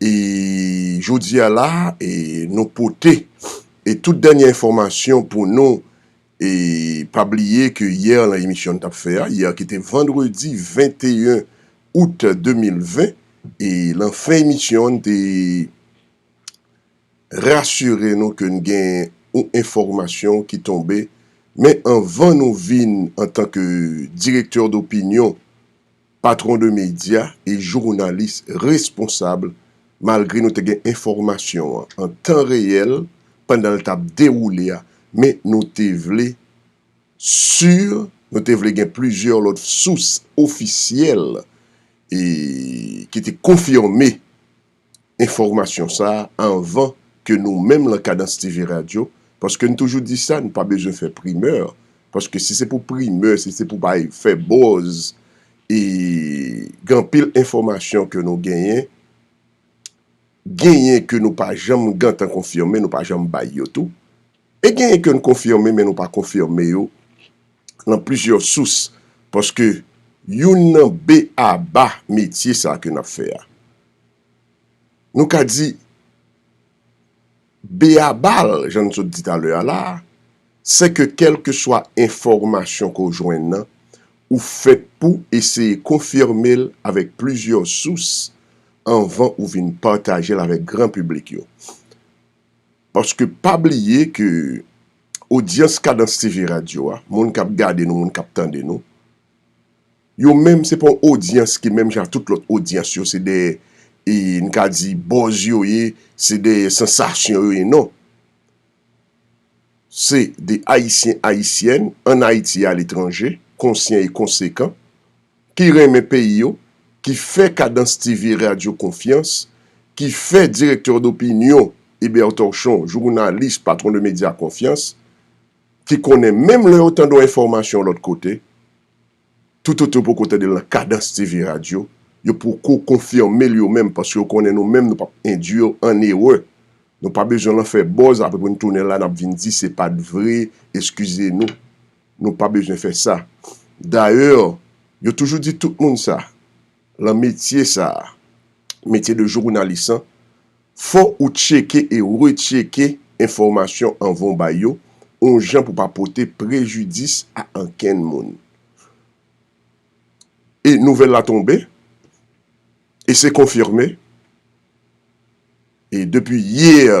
E jodi a la e nou pote e tout dènye enfòmasyon pou nou e pa bliye ke yè lan emisyon n tap fè a yè ki te vandredi 21 out 2020 e lan fen emisyon an n te rasire nou ke n gen yon enfòmasyon ki tonbe men anvan nou vin antanke direktè dopinyon Patron de medya e jounalis responsab malgre nou te gen enfòmasyon an an tan reyèl pandan l t ap dewoule a men nou te vle si nou te vle gen plizyè lòt sous ofisyèl e ki te konfime enfòmasyon sa a anvan ke nou menm lan Kadans TV Radyo, paske n toujou di sa, n pa bezwen fè primè, paske si se pou primè, si se pou bay, fè bòz, e gen anpil enfòmasyon ke nou genyen, genyen ke nou pa janm gentan konfime, nou pa janm bay yo tou. E genyen ke n konfime men nou pa konfime yo lan plizyè sous paske youn nan b-a-ba metye sa ke n ap fè a nou ka di b-a-ba l jan n sot di talè a la a se ke kèlkeswa enfòmasyon ke w jwenn nan ou fèt pou eseye konfime l avèk plizyè sous anvan ou vin pataje l avèk gran piblik yo. Paske pa bliye ke odyans Kadans TV radyo a, moun kap gade nou, moun kap tande nou, yo menm se pa yon odyans ki menm jan ak tout lòt odyans yo, se dèyè, e n ka di buzz yo ye, se dèyè sansasyon yo ye, non. Se de Ayisyen, Ayisyèn, an Ayiti e aletranje, konsyan e konsekan. ki renmen peyi yo, ki fè Kadans TV Radyo konfyans, ki fè Directeur d'Opinion Eber Torchon, jounalis Patron de Media konfyans, ki konnen menm lè yo tande yon enfòmasyon lòt kote, toutotan yo poko tande l nan Kadans TV Radyo, yo poko konfime l yo menm paske yo konnen nou menm nou p ap endui an erè. Nou pa bezwen lan fè buzz apre pou n tounen la n ap vin di se pa t vre, eskize nou. Nou pa bezwen fè sa. Dayè, yo toujou di tout moun sa, lan metye sa, metye de jounalis an, fò ou tcheke e retcheke enfòmasyon anvan ou bay yo, oun jan pou pa pote prejidis a ankenn moun. E nouvèl la tonbe, e se konfime, e depi yè,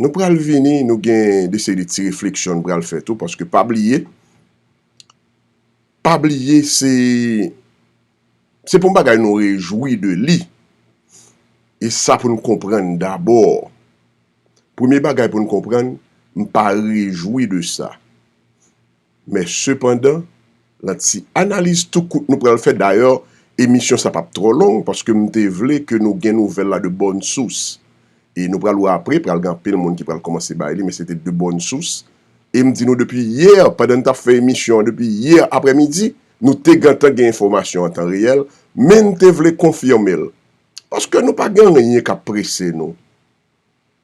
Nou pral vini, nou gen de seri de ti refleksyon nou pral fè tou paske pa bliye, pa bliye se, se pou bagay nou rejwi de li, e sa pou nou konprann dabò, premye bagay pou nou konprann, m pa rejwi de sa. Men sepandan, lan ti analiz tou kout nou pral fè, dayè emisyon sa pap twò long paske m te vle ke nou gen nouvèl la de bòn sous. E nou pral wè apre, pral gen anpil moun ki pral kòmanse bay li men se te de bòn sous. E m di nou depi yè, pandan n tap fè emisyon an, depi yè aprè midi, nou te gentan gen enfòmasyon an tan reyèl, men n te vle konfime l. Paske nou pa gen anyen kap prese nou.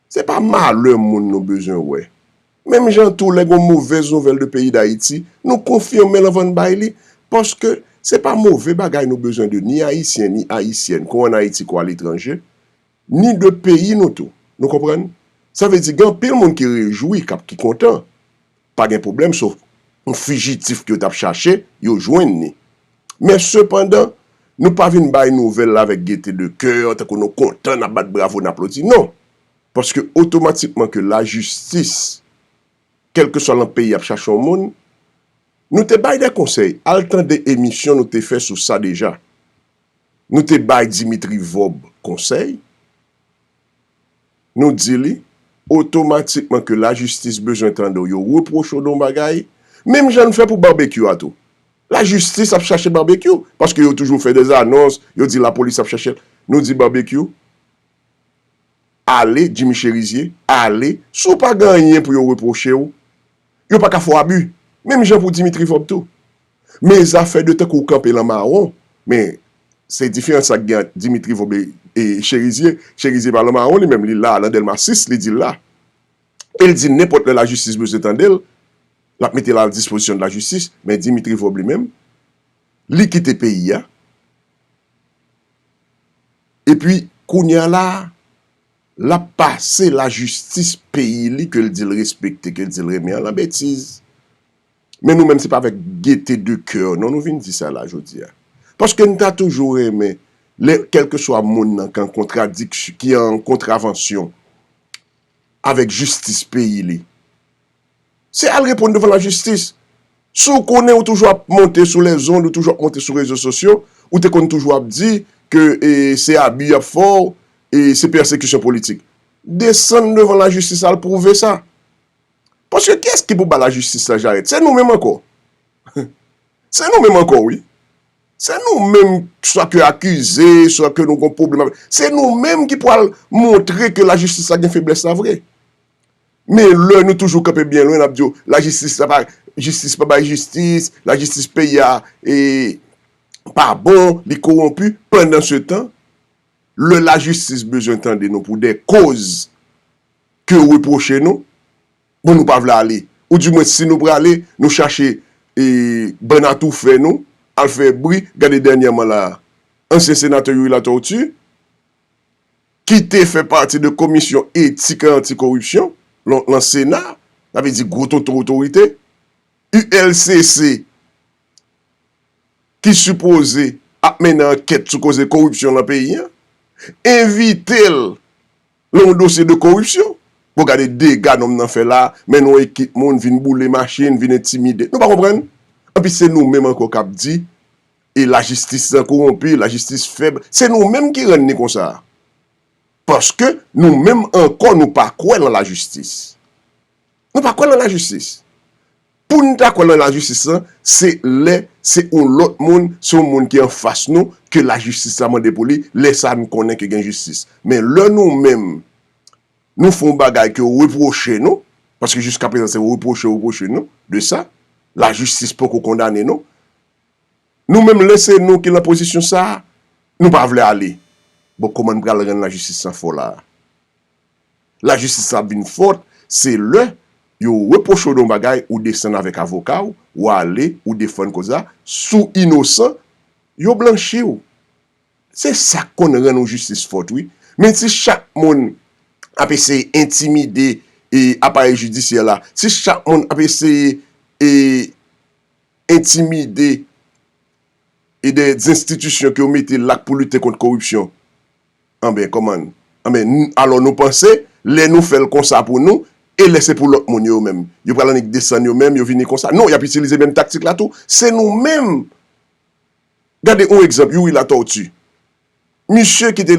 Se pa malè moun nou bezwen wè. Menm jan tou lè gon movèz nouvèl de peyi dayiti, nou konfime l anvan n bay li, paske se pa move bagay nou bezwen de ni ayisyen ni ayisyèn ko an ayiti ko aletranje, ni de peyi nou tou. Nou konprann? Sa vle di gen anpil moun ki rejwi, k ap ki kontan. Pa gen pwoblèm so m fijitif ke yo t ap chache, yo jwenn ni. Men sepandan, nou pa vin bay nouvèl la avèk gete de kè, tankou nou kontan, n ap bat bravo, n aplodi. Non! Paske otomatikman ke lajistis, kèlkeswa lan peyi ap chache yon moun, nou te bay de konsèy, al tande emisyon nou te fè sou sa deja. Nou te bay Dimitri Vorbe konsèy. Nou di li, otomatikman ke lajistis bezwen tande w, yo repwoche w de yon bagay, menm jan n fè pou Barbecue a tou. Lajistis ap chache Barbecue, paske yo toujou fè dè anons, yo di lapolis ap chache l. Nou di Barbecue, ale, Jimmy Cherizier, ale, si w pa gen anyen pou yo repwoche w, yo pa ka fè w abi, menm jan pou Dimitri Vorbe tou. Men zafè de tankou w kanpe lan mawon, men se diferan sa gen ant Dimitri Vobe e Cherizier, Cherizier pa lan mawon li menm, li la lan Dèlma 6, li di l la. E l di nenpòt lè lajistis bezwen tande l, l ap mete l al dispozisyon de lajistis, men Dimitri Vobe li menm, li kite peyi a, e pi kounye a la, l ap pase lajistis peyi li ke l di l respekte, ke l di l renmen an lan betiz. Men nou menm se pa avèk gete de coeur non nou vin di sa la jodi a. Paske n ta toujou renmen lè kèlkeswa moun nan kan kontradik ki an kontravansyon avèk jistis peyi li. Se al reponn devan lajistis. Si w konnen ou toujou ap monte sou lèzond, ou toujou ap monte sou rezo sosyo, ou te konn toujou ap di ke e se abi y ap fè w, e se pèsekisyon politik. Desann devan lajistis al pwouve sa. Paske kiyès ki pou ba lajistis la jarèt? Se nou menm ankò. Se nou menm ankò wi. Se nou menm swa ke akize, swa ke nou gon pwoblèm avèk. Se nou menm ki pwal montre ke lajistis la gen feblès la vre. Men lè nou toujou kanpe byen lwen, n ap di yo, lajistis la pa, jistis pa bay jistis, lajistis peyi a e pa bon, li kowonpi. Pandansetan, lè lajistis bezwen tande nou pou de koz ke yo repwoche nou, bon nou pa vle ale, ou di mwen si nou prale nou chache e bann atoufè nou al fè bri, gade dènyèman la a, ansyen senatè Youri Latortue, ki te fè pati de komisyon etik e anti koripsyon lan sena, sa vle di gwo tonton otorite, ULCC ki sipoze ap mennen ankèt sou koze koripsyon lan peyi an, envite l Lè yon dosye de koripsyon, bon gade dega nonm nan fè la, mennen yon ekip moun vin boule machin, vin entimide. Nou pa konprann? Enpi se nou menm ankò k ap di e lajistis lan kowonpi, lajistis fèb. Se nou menm ki rann li konsa a. Paske nou menm ankò nou pa kwè lan lajistis. Nou pa kwè lan lajistis. Pou nou ta kwè lan lajistis lan, se lè se yon lòt moun, se yon moun ki an fas nou ke lajistis la mande pou li, lè sa a nou konnen ke gen jistis. Men lè nou menm, nou fè yon bagay ke yo repwoche nou, paske jiska prezan se repwoche yo repwoche nou de sa, lajistis poko kondane nou, nou menm lè se nou ki lan pozisyon sa a, nou pa vle ale. Bon kòman nou pral rann lajistis lan fò la a? Lajistis la ap vin fòt se lè yo repwoche w de yon bagay ou desann avèk avoka w, ou ale ou defann kòz la, si w inosan yo blanchi w. Se sa k konn rann yon jistis fòt wi. Men si chak moun ap eseye entimide aparèy jidisyè la, si chak moun ap eseye entimide de zenstitisyon ke yo mete la pou lite kont koripsyon, Anben kòman, anben n, alò nou panse, lè nou fè l konsa pou nou, e lè se pou lòt moun yo yo menm? Yo pral annik desann yo menm, yo vini konsa? Non, y ap itilize menm taktik la tou. Se nou menm! Gade yon egzanp, Youri Latortue. Misye ki te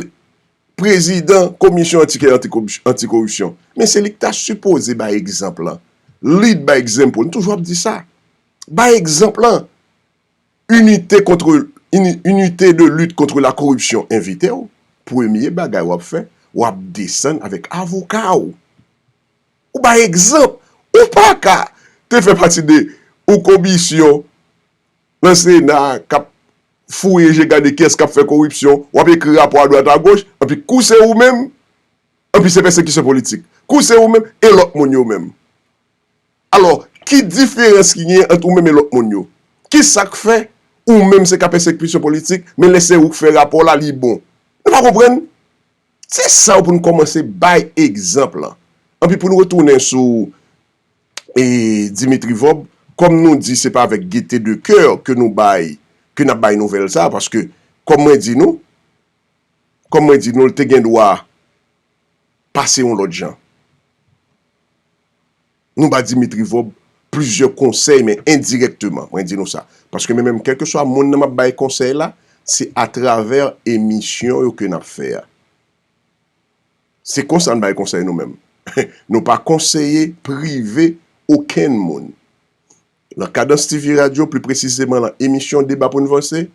prezidan komisyon antikè antikoripsyon. Men se li ki ta sipoze bay egzanp lan. Lead by example. M toujou ap di sa. Bay egzanp lan. Inite kontre Inite de lit kontre la koripsyon envite w, premye bagay w ap fè, w ap desann avèk avoka w. Ou bay egzanp, ou pa ka te fè pati de yon komisyon nan sena k ap fouye je gade kiyès k ap fè koripsyon, w ap ekri rapò adwat agoch, anpi kou se ou menm, anpi se pèsekisyon politik, kou se ou menm e lòt moun yo menm. Alò, ki diferans ki genyen ant ou menm e lòt moun yo? Ki sa k fè, ou menm se ka pèsekisyon politik, men lè se ou k fè rapò la, li bon? Nou pa konprann? Se sa yo pou n kòmanse bay egzanp lan. Anpi pou n retounen sou Dimitri Vob, kòm nou di se pa avèk gete de coeur ke nou bay, ke n ap bay nouvèl sa a, paske kòm mwen di nou, kòm mwen di nou l te gen dwa pase yon lòt jan. Nou pa di metrivob plizyè konsèy men endirèkteman mwen di nou sa. Paske men menm kèlkeswa moun nan m ap bay konsèy la, se atravè emisyon yo ke n ap fè a. Se konsa n bay konsèy nou menm. Nou pa konseye prive okenn moun. Nan Kadans TV radyo, pli presizeman nan emisyon Deba pou n vanse,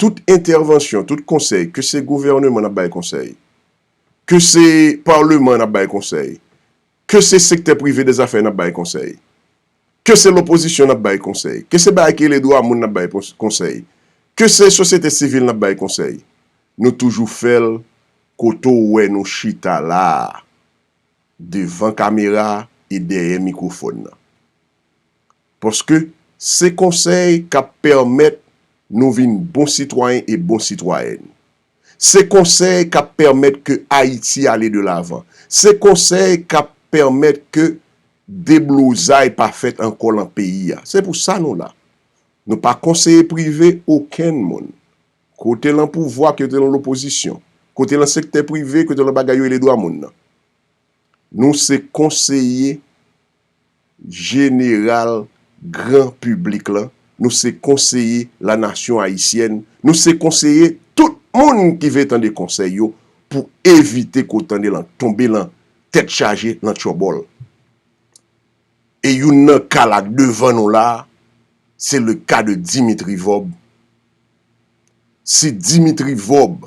tout entèvansyon, tout konsèy, ke se gouvèneman n ap bay konsèy, Ke se Parleman an ap bay konsèy, ke se sektè prive de zafè an ap bay konsèy, ke se lopozisyon an ap bay konsèy, ke se bagay ki rele dwa moun an ap bay konsèy, ke se sosyete sivil an ap bay konsèy, nou toujou fè l kote w wè nou chita la a, devan kamera e dèyè mikwofòn nan. Paske se konsèy k ap pèmèt nou vin bon sitwayen e bon sitwayèn. Se konsèy k ap pèmèt ke Ayiti ale de lavan. Se konsèy k ap pèmèt ke deblozay pa fèt ankò lan peyi a. Se pou sa nou la. Nou pa konseye prive okenn moun. Kote lan pouvwa, kote lan lopozisyon. Kote lan sektè prive, kote lan bagay yo rele dwa moun nan. Nou se konseye jeneral gran piblik lan, nou se konseye la nasyon ayisyèn, nou se konseye tout moun ki vle tande konsèy yo pou evite kou tande lan tonbe lan tèt chaje, lan tyòbòl. E youn nan ka la devan nou la, se le ka de Dimitri Vob. Si Dimitri Vob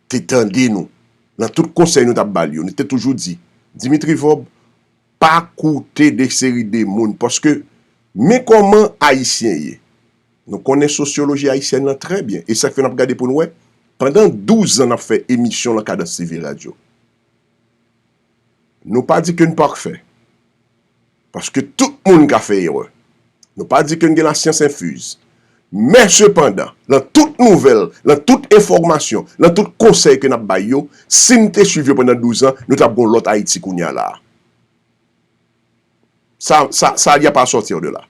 te tande nou nan tout konsèy nou tap bal yo nou te toujou di Dimitri Vob pa koute de seri de moun paske men kòman ayisyen ye nou konnen sosyoloji ayisyèn lan trè byen e sak fè nap gade poun wè pandan 12 zan nap fè emisyon lan kadanstv radyo. Nou pa di ke n pakfè, paske tout moun ka fè erè. Nou pa di ke n gen la syans enfiz. Men sepandan, lan tout nouvèl, lan tout enfòmasyon, lan tout konsèy ke n ap bay yo, si n te swiv yo pandan 12 an, nou t ap gen yon lòt Ayiti kounye a la a. Sa, sa, sa, il y a pas à sortir de là.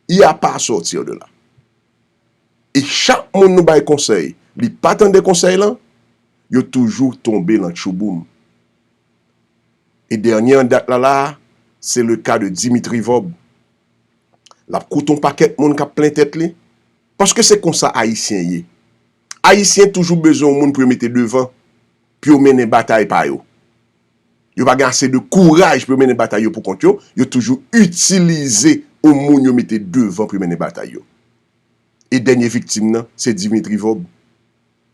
Il y a pas à sortir de là. E chak moun nou bay konsèy li pa tande konsèy lan, yo toujou tonbe lan tchouboum. E dènye an dat la la a, se le ka de Dimitri Vorb. L ap koute yon pakèt moun k ap plen tèt li, paske se konsa Ayisyen ye. Ayisyen toujou bezwen yon moun pou yo mete devan, pou yo mennen batay pa yo. yo pa gen ase de kouraj pou yo mennen batay yo pou kont yo, yo toujou itilize yon moun yo mete devan pou yo mennen batay yo. E dènye viktim nan, se Dimitri Vorbe.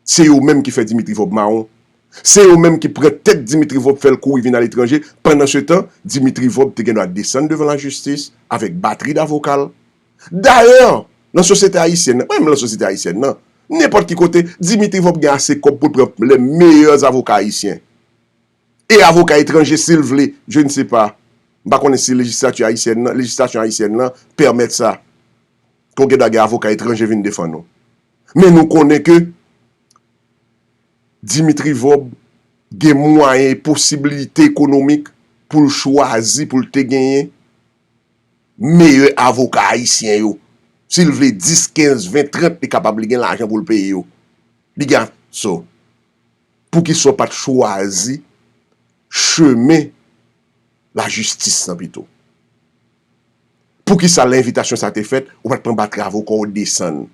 Se yo menm ki fè Dimitri Vorbe mawon. Se yo menm ki pran tèt Dimitri Vorbe fè l kouri vin aletranje, pandansetan, Dimitri Vorbe te gen dwa desann devan lajistis avèk batri davoka l. Dayè, nan sosyete ayisyèn nan, pa menm nan sosyete ayisyèn nan, nenpòt ki kote, Dimitri Vorbe gen ase kòb pou l pran lè meyè zavoka ayisyen. e avoka etranje si l vle, je ne sais pas, m pa konnen si lejislati ayisyèn lan, lejislasyon ayisyèn lan pèmèt sa, ke w gen dwa gen avoka etranje vin defann ou. Men nou konnen ke Dimitri Vorbe gen mwayen e posibilite ekonomik pou l chwazi, pou l te genyen meyè avoka ayisyen yo. Si l vle 10, 15, 20, 30, li kapab li gen lajan pou l peye yo. Li gen, so. Poukisa w pa t chwazi chemen lajistis lan pito? Poukisa lè envitasyon sa a te fèt, ou pa t pran batri avoka w desann?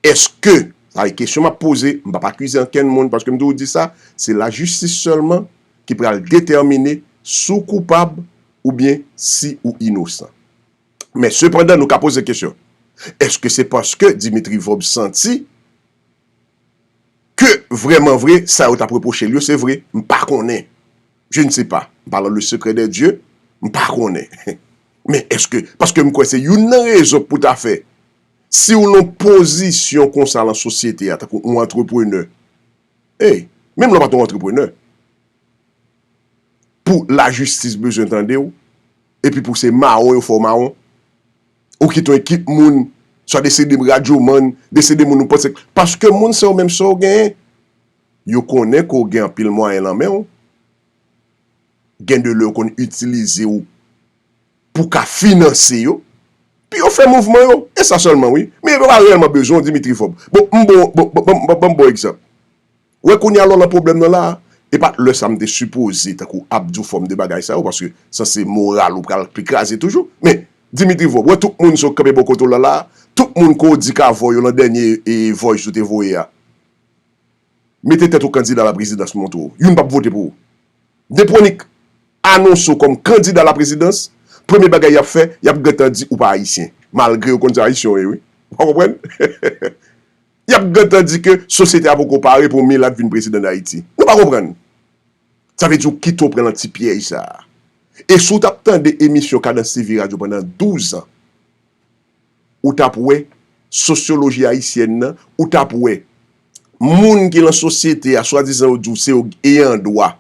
Èske, sa e kesyon m ap poze, m pa p akize ankenn moun paske m toujou di sa, se lajistis sèlman ki pral detèmine si w koupab oubyen si ou inosan. Men sepandan nou ka poze kesyon, èske se paske Dimitri Vorbe santi. Ke vrèman vre sa yo t ap repwoche l yo se vre, m pa konnen. Je ne sais pas. M pa lan le secret des dieux. M pa konnen. Men èske, paske m kwè se youn nan rezon k pou ta fè si w lan pozisyon konsa lan sosyete a tankou on antreprenè, ey, menm lè w pa t on antreprenè, pou lajistis bezwen tande w, epi pou se mawon yo fè w mawon. ou kit yon ekip moun, swa de se de radyomann, de se de moun ou panse k, paske moun sa yo menm sa w genyen, yo konnen ke w gen anpil mwayen lan men w, gen de lè yo konn itilize w pou w ka finanse yo, pi yo fè mouvman yo, e sa sèlman wi, men yo pa reyèlman bezwen w Dimitri Vob. Bon, m bon, bon, bon, bon, bon, ban m ba w egzanp. Ou wè kounya lè w lan pwoblèm lan la a, e pat lè sa m te sipoze tankou ap di w fòm de bagay sa yo paske sa se moral ou pral pi kraze toujou. Men, Dimitri Vorb, ou wè tout moun sa yo k kanpe bò kote w lan la a, tout moun ke w di ka vòy yo lan dènye voice ou te voye a, mete tèt ou kandida a la prezidans m montre w, youn pap vote pou ou. Depwonik anonse w kòm kandida a la prezidans, premye bagay y ap fè, y ap gentan di ou pa ayisyen, malgre yo konn se ayisyen w ye wi. Ou pa konprann? y ap gentan di ke sosyete a poko pare pou yon milat vin prezidan Dayiti. Nou pa konprann. Sa vle di ou kite ou pran lan ti pyèj sa a. E si w t ap tande emisyon Kadans TV radyo pandan 12 an, ou t ap wè sosyoloji ayisyèn nan, ou t ap wè moun ki lan sosyete a, swadizan yo di w se yo ayan dwa,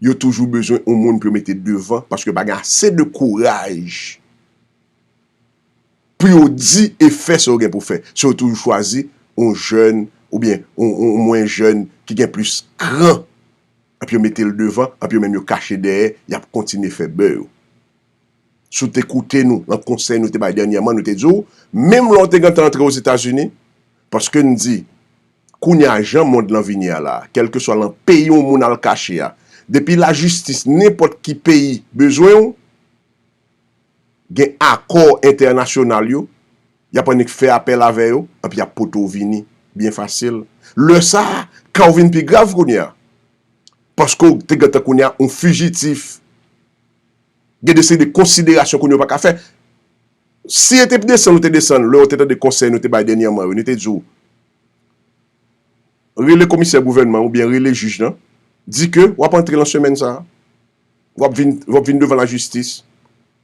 yo toujou bezwen yon moun pou yo mete devan paske pa gen ase de kouraj. pou yo di e fè sa yo gen pou fè, so yo toujou chwazi yon jèn oubyen yon mwen jèn ki gen plis kran epi yo mete l devan epi yo menm yo kache dèyè yap kontinye fè bè yo. Si w te koute nou nan konsèy nou te bay dènyèman nou te di w menm lè w te gentan antre Ozetazini paske n di kounye a jan mond lan vini a la kèlkeswa lan peyi yon moun al kache a depi lajistis nenpòt ki peyi bezwen w gen akò entènasyonal yo, y ap annik fè apèl avè yo, epi y ap pote w vini byen fasil. Lè sa a, ka w vin pi grav kounye a, paske w te gentan kounye a yon fijitif. Gen de seri de konsiderasyon kounye a ou pa ka fè. Si e te desann ou te desann, lè ou te tande konsèy nou te bay dènyèman yo, nou te di w, rele komisè gouvènman oubyen rele jij lan, di ke w ap antre lan semèn sa a. Wap vin wap vin devan la jistis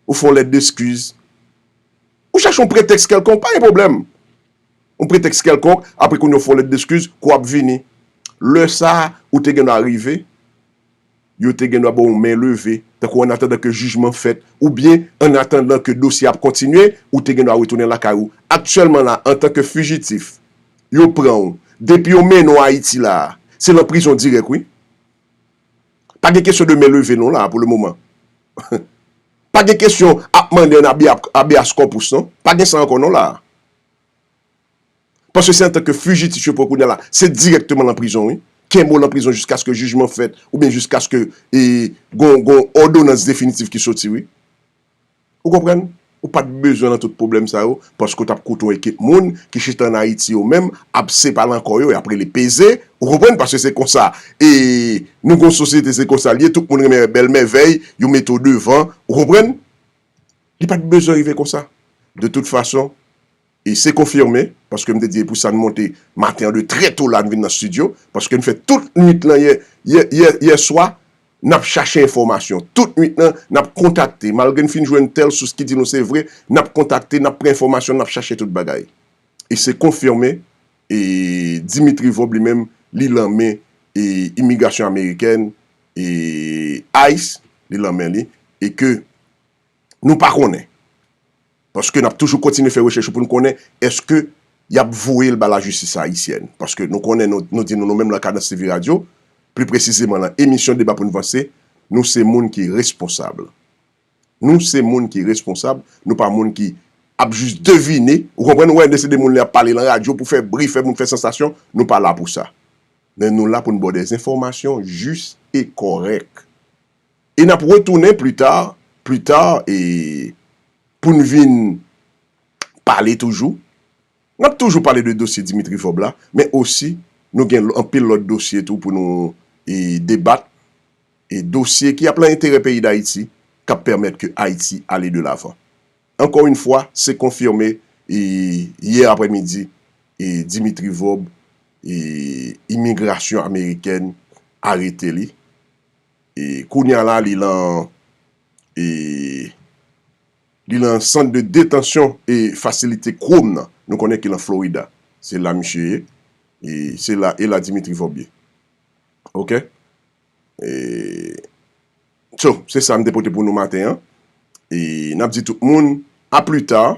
ou fè yon lèt deskiz ou chache yon pretèks kèlkonk pa gen pwoblèm yon pretèks kèlkonk apre kounye ou fè yon lèt deskiz kou wap vini lè sa ou te gendwa rive yo te gendwa baw yon men leve tankou annatandan ke jijman fèt oubyen annatandan ke dosye ap kontinye ou te gendwa retounen lakay ou aktyèlman la antan ke fijitif yo pranw depi yo mennen w ayiti la se lan prizon dirèk wi. Pa gen kesyon de men leve non la pou le moman. Pa gen kesyon ap mande an abeas corpus non. Pa gen sa ankò non la. Paske se antanke fijitif yo pran kounya la. Se direkteman lan prizon wi. Kenbe w lan prizon jiskaske jijman fèt oubyen jiskaske gon odonans definitif ki soti wi. Ou konprann? Ou pa t bezwen nan tout pwoblèm sa yo, paske ou t ap koute yon ekip moun ki chita ann Ayiti yo menm ap separe an kò yo, y ap rele peze, ou konprann, paske se konsa e nou gen yon sosyete se konsa l ye, tout moun renmen bèl mèvèy, yo mete w devan, ou konprann? Li pa t bezwen rive konsa. De tout fason, E se konfime, paske m te di e pou sa n monte maten an de trè to la n vin nan stidyo, paske n fè tout nuit lan yè, yè, yè, yè swa, n ap chache enfòmasyon. Tout nuit lan, n ap kontakte. Malgre n fin jwenn tèl sous ki di nou se vre, n ap kontakte, n ap pran enfòmasyon, n ap chache tout bagay. E se konfime, e Dimitri Vob li menm, li lan men e imigrasyon amerikèn, e ice, li lan men li, e ke Nou pa konnen. Paske n ap toujou kontinye fè rechèch pou n konnen èske y ap voye l ba lajistis ayisyèn. Paske nou konnen nou di nou nou menm lan Kadans TV radyo, pli presizeman lan emisyon Deba pou n vanse, nou se moun ki responsab. Nou se moun ki responsab, nou pa moun ki ap jis devine, ou konprann, ou wè lè se de moun lè y ap pale lan radyo pou fè bri, fè moun fè sansasyon, nou pa la pou sa. Men nou la pou n ba w dèzenfòmasyon jis e kòrèk. E n ap retounen pli ta, pli ta e pou n vin pale toujou. N ap toujou pale de dosye Dimitri Vorbe la, men osi nou gen anpil lòt dosye tou pou nou debat, e dosye ki ap lan enterè peyi Dayiti, k ap pèmèt ke Ayiti ale de lavan. Ankò in fwa, se konfime e yè aprè midi e Dimitri Vorbe e imigrasyon amerikèn arete li. E kounya la li lan e li lan sant de detansyon e fasilite Chrome nan. Nou konnen ki lan Florida. Se la misye ye. E se la e la Dimitri Vorbe ye. Ok. E So, se sa m te pote pou nou maten an. E n ap di tout moun a pli ta.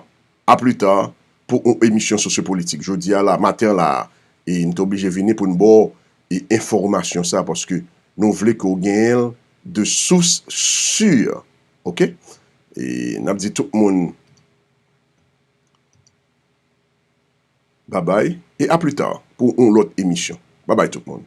A plus tard pou yon emisyon sosyopolitik. Jodi a la, maten an la a, e m te oblije vini pou n ba w e enfòmasyon sa a paske nou vle ke w genyen l de sous sur. Ok? E n ap di tout moun babay e a plus tard pou yon lòt emisyon. Babay tout moun.